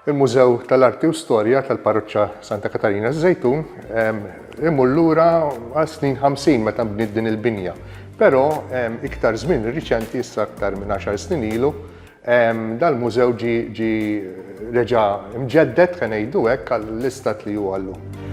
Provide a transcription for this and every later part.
Il-Mużew tal-Arti u Storja tal-Parroċċa Santa Katarina Żejtun imur lura għal snin 50 meta nbniet din il-binja. Però iktar żmien riċenti issa aktar minn 10 snin ilu dal-mużew ġi reġa' mġeddet ħa ngħidu hekk għall-istat li huwa llum.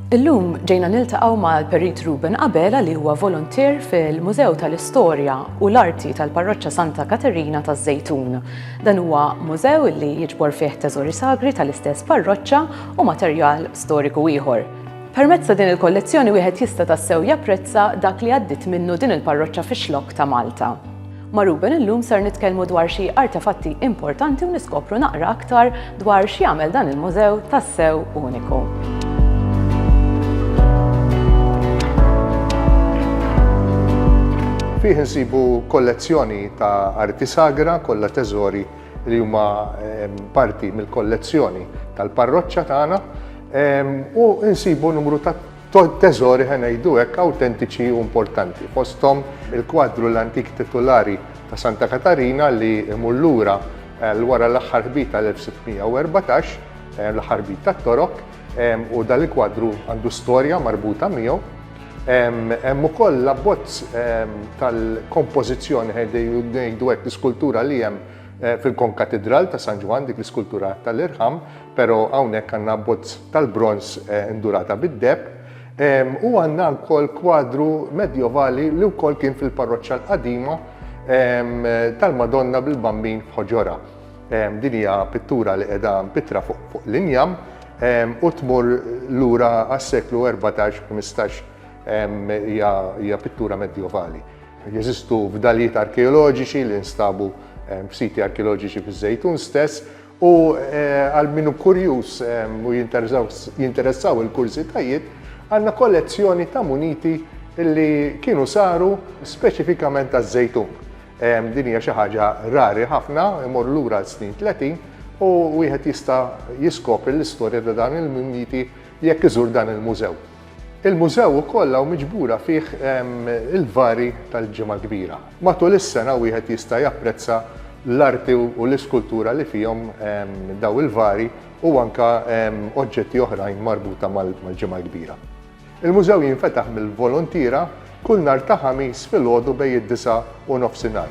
Illum ġejna niltaqgħu mal-Perit Ruben Abela li huwa voluntier fil-Mużew tal-Istorja u l-Arti tal-Parroċċa Santa Katerina taż-Żejtun. Dan huwa mużew li jiġbor fih teżori sagri tal-istess parroċċa u materjal storiku ieħor. Permezz ta' din il-kollezzjoni wieħed jista' tassew japprezza dak li għaddiet minnu din il-parroċċa fix-xlokk ta' Malta. Ma' Ruben illum ser nitkellmu dwar xi artefatti importanti u niskopru naqra aktar dwar x'jagħmel dan il-mużew tassew uniku. Fih insibu kollezzjoni ta' arti sagra kollha teżori li huma ehm, parti mill-kollezzjoni tal-parroċċa tagħna ehm, u insibu numru ta' teżori, ħa ngħidu hekk, awtentiċi u importanti, fosthom il-kwadru l-antik titulari ta' Santa Katarina li jmur lura għal wara l-aħħar ħbit tal-1614, l-aħħar ħbit tat-Torok, u dan il-kwadru għandu storja marbuta miegħu. Hemm ukoll l-abbozz tal-kompożizzjoni ngħidu hekk l-iskultura li hemm fil-konkatidral ta' San Ġwann, dik l-iskultura tal-irħam, Però hawnhekk għandna abbozz tal-bronż indurata bid-deheb u għandna wkoll kwadru Medjovali li wkoll kien fil-parroċċa l-qadima tal-Madonna bil-Bambin f'Ħoġorha. Din hija pittura li qiegħda mpittra fuq l-injam u tmur lura għas-seklu 14, 15 hija pittura Medjovali. Jeżistu fdalijiet arkeoloġiċi li nstabu f'siti arkeoloġiċi fiż-Żejtun stess U għal min hu kurjuż u jinteressaw il-kurżitajiet, għandna kollezzjoni ta' muniti li kienu saru speċifikament għaż-żejtun. Din hija xi ħaġa rari ħafna, imorru lura għal snin tletin u wieħed jista' jiskopri l-istorja ta' dawn il-muniti jekk iżur dan il-mużew. Il-mużew ukoll hawn miġbura fih il-vari tal-Ġimgħa Kbira. Matul is-sena wieħed jista' japprezza l-arti u l-iskultura li fihom dawn il-vari u anke oġġetti oħrajn marbuta mal-Ġimgħa Kbira. Il-mużew jinfetaħ mill-voluntiera kull nhar ta' Ħamis filgħodu bejn id-disgħa u nofsinhar.